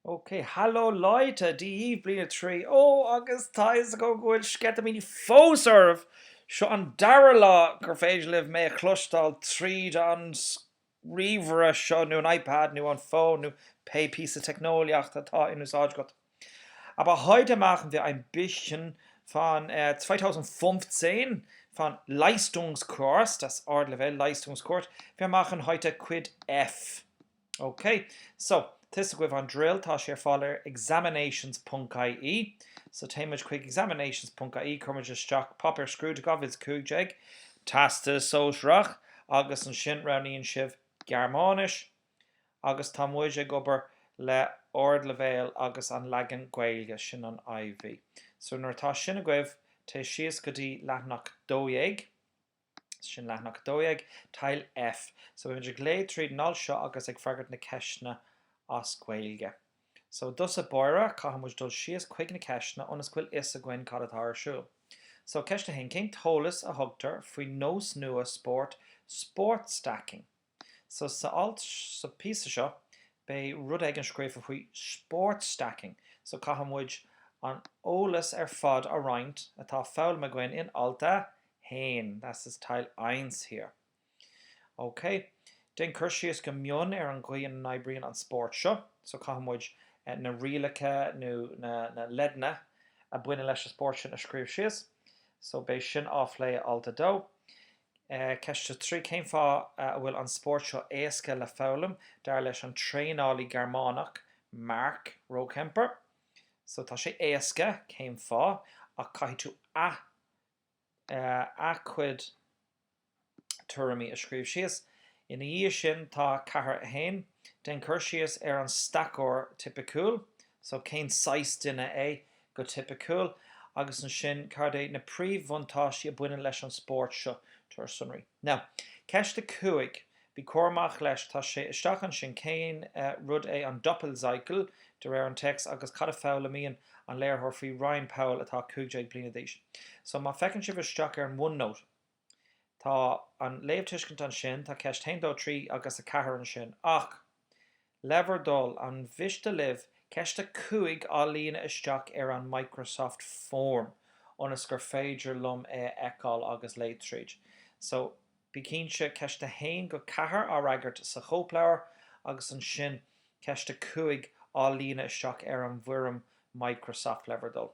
OK. Hallo Leute, Dia daoibh, Bliain 3. Ó, agus tá a fhios agam go bhfuil sceitimíní fós oraibh! Seo an dara lá gur féidir libh mé a chloisteáil tríd an ríomhaire seo nó an iPad nó an fón nó pé píosa teicneolaíochta atá in úsáid agat. Aber heute machen wir ein bisschen von 2015 von Leistungskurs, das Ardleibhéal Leistungskurs, wir machen heute Cuid F. Ok. So, tá a fhios agaibh an drill, tá sé ar fáil ar examinations.ie. So, téann muid chuig examinations.ie, cuir muid isteach Páipéar Scrúdaithe 2015, Teastas Sóisearach, agus ansin roghnaíonn sibh Gearmáinis. agus tá muid ag obair le ardleibhéal agus an leagan Gaeilge, sin an IV. So nuair atá sin agaibh, téigh síos go dtí leathanach 12, sin leathanach 12, Teil F. So beimid ag léamh tríd an alt seo agus ag freagairt na ceisteanna as Gaeilge. So i dtosach báire, caithfidh muid dul síos chuig na ceisteanna ionas go bhfuil a fhios againn cad atá ar siúl. So ceist a haon, cén t-eolas a thugtar faoin nós nua spóirt Sportstacking? Sa alt, sa phíosa seo, beidh rud éigin scríofa faoi 'sport stacking', so caithfidh muid an eolas ar fad a roinnt atá foghlamtha againn in alt 1, das ist Teil Eins hier. Ok, déan cur síos go mion ar an gcaoi ina n-oibríonn an spórt seo, so caithfidh muid na rialacha nó na leideanna a bhaineann leis an spórt sin a scríobh síos, so beidh sin á phlé i alt 2. Ceist 3. Cén fáth a bhfuil an spórt seo éasca le foghlaim, dar leis an traenálaí Gearmánach, Marc Rohkemper? So, tá sé éasca, cén fáth, ach caithfidh tú a, a chuid tuairimí a scríobh síos. Ina dhiaidh sin, tá 4. 1. Déan cur síos ar an staiceoir tipiciúil. So, cén saghas duine é? go tipiciúil, agus ansin cad é na príomhbhuntáistí a bhaineann leis an spórt seo? Tabhair sonraí. Now. Ceist 5 Bí cúramach leis, tá sé isteach ansin cén rud é an Doppelcycle de réir an téacs agus cad a foghlaimíonn an léiritheoir faoi Ryan Powell atá 15 bliana d'aois? So, má féachann sibh isteach ar an OneNote. Tá an léamhtuiscint ansin, tá ceist 1, 2, 3 agus 4 ansin. Ach, le bhur dtoil, an miste libh ceist 5 á líonadh isteach ar an Microsoft Form ionas gur féidir liom é a fheiceáil agus léamh tríd? So, bí cinnte, ceist 1-4 á fhreagairt sa chóipleabhar agus ansin ceist 5 á líonadh isteach ar an bhfoirm Microsoft, le bhur dtoil.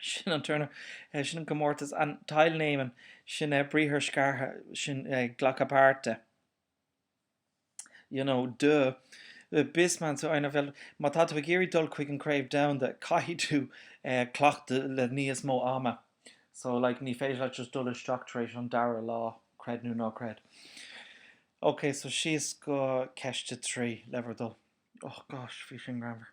sin an Turnier, sin an comórtas, an teilnehmen, sin briathar scartha, sin glacadh páirte, you know, duh, bis man zu einer Welt, má tá tú ag iarraidh dul chuig an Craobh Domhanda, caithfidh tú cleachtadh le níos mó ama, so like ní féidir leat just dul isteach tar éis an dara lá, creid nó ná creid. Ok, so síos go ceist a trí, le bhur dtoil. Oh gosh, bhí sin greannmhar.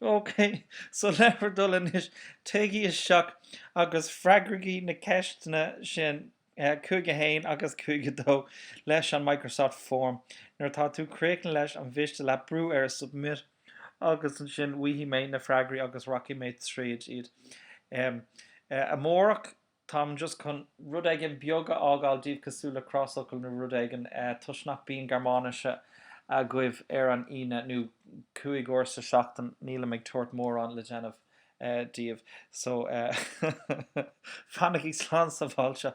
OK, so le bhur dtoil anois, téigí isteach agus freagraigí na ceisteanna sin, eh, 5 1 agus 5 2, leis an Microsoft Form. Nuair atá tú críochnaithe leis, an mhiste leat brú ar Submit agus ansin bhfaighidh mé na freagraí agus rachaidh mé tríd iad. Em, eh, amárach táim just chun rud éigin beag a fhágáil daoibh cosúil le crosfhocal nó rud éigin toisc nach bíonn Gearmáinis agaibh ar an Aoine nó cúig uair sa seachtain nílim ag tabhairt mórán le déanamh daoibh so fanaigí slán sábháilte